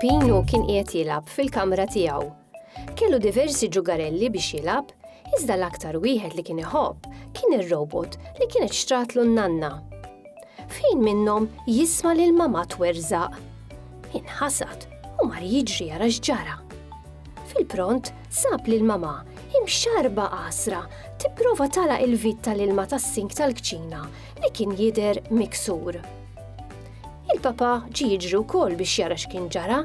Pino kien qiegħed jilgħab fil-kamra tiegħu. Kellu diversi ġugarelli biex jilgħab, iżda l-aktar wieħed li kien iħobb kien ir-robot li kienet xtratlu n-nanna. Fejn minnhom jisma' lil mama twerżaq. Inħasad u mar jiġri jara x'ġara. Fil-pront sab lil mama imxarba qasra tipprova tala il-vit tal-ilma tas-sink tal-kċina li kien jidher miksur. Il-papa ġi jiġri wkoll biex jara x'kien ġara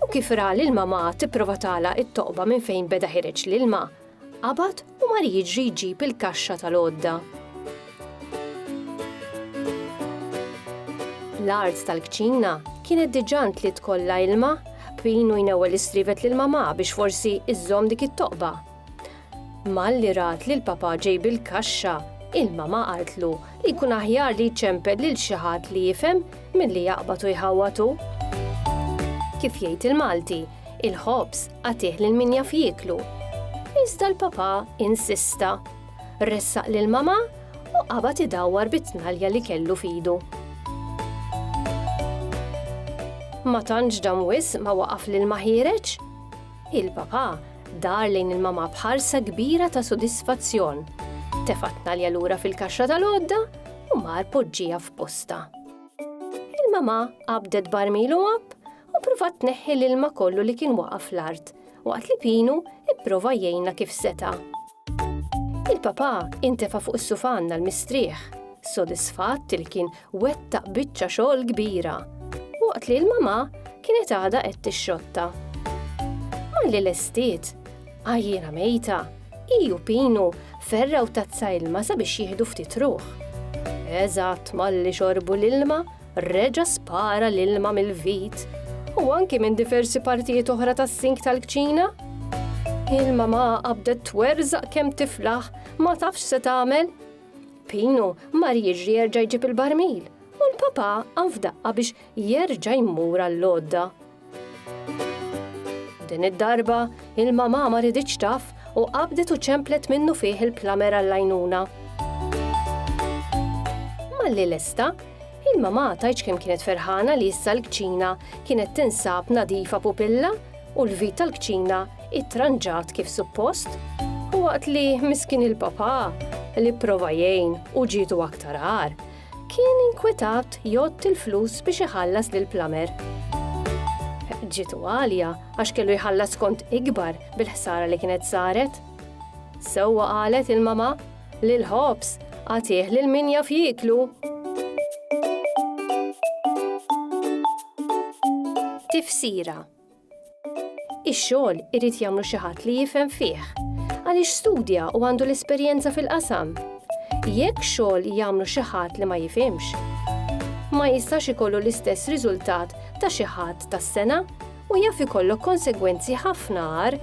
u kif ra lil mama tipprova tala it-toqba minn fejn beda ħireġ l-ilma, qabad u mar jiġri jġib il-kaxxa tal-għodda. L-art tal-kċina kienet diġà li tkollha ilma, Pinu jnewwel istrivet lil mama biex forsi iżżomm dik it-toqba Malli rat li l-papà ġej bil-kaxxa, il-mamà qaltlu li jkun aħjar li jċempel lil xi ħadd li jifhem milli jaqbad u jħawwad hu. Kif jgħid il-Malti, il-ħobż agħtih lil min jaf jieklu. Iżda l-papà insista. Ressaq lill-mamà u qabad idawwar bit-tnalja li kellu f'idu. Ma tantx dam wisq ma waqaf lil ma ħiereġ. Il-Papà dar lejn il-Mamà b'ħarsa kbira ta' sodisfazzjon. Tefa' t-tnalja lura fil-kaxxa tal-għodda u mar poġġieha f'postha. Il-Mamà qabdet barmil u għabb u pruvat tneħħi l-ilma kollu li kien waqa' fl-art waqt li Pinu pprova jgħinha kif seta'. Il-papà intefa' fuq is-sufan għal mistrieħ, sodisfatt li kien wettaq biċċa xogħol kbira, waqt li l-mamà kienet għadha qed tixxotta. Malli lestiet, għajjiena mejta, hi u Pinu ferraw tazza ilma sabiex jieħdu ftit ruħ. Eżatt malli xorbu l-ilma, reġa' spara l-ilma mill-vit u anki minn diversi partijiet oħra tas-sink tal-kċina. Il-mama qabdet twerżaq kemm tiflaħ ma tafx se tagħmel. Pino mar jiġri jerġa' jġib il-barmil u l-papa qam f'daqqa biex jerġa' jmur għall-għodda. Din id-darba, il-mamà ma riditx taf u qabdet u ċemplet minnu fih il-plamer għall-għajnuna. Malli lesta, il-mamà tajċ kemm kienet ferħana li issa l-kċina kienet tinsab nadifa pupilla u l-vit tal-kċina ittranġat kif suppost. U waqt li miskin il-papà li prova jgħin u ġietu aktar għar, Kien inkwitat jgħotti l-flus biex iħallas lill-plumber. Ġietu għalja għax kellu jħallas kont ikbar bil-ħsara li kienet saret. Sewwa qalet il-mama li l-ħobż għatih lil min jaf jieklu. Tifsira Ix-xogħol irid jagħmlu xi ħadd li jifhem fih, għaliex studja u għandu l-esperjenza fil-qasam. Jekk xogħol jagħmlu xi ħadd li ma jifhimx, ma jistax ikollu l-istess riżultat ta' xi ħadd tas-sengħa u jaf ikollok konsegwenzi ħafna agħar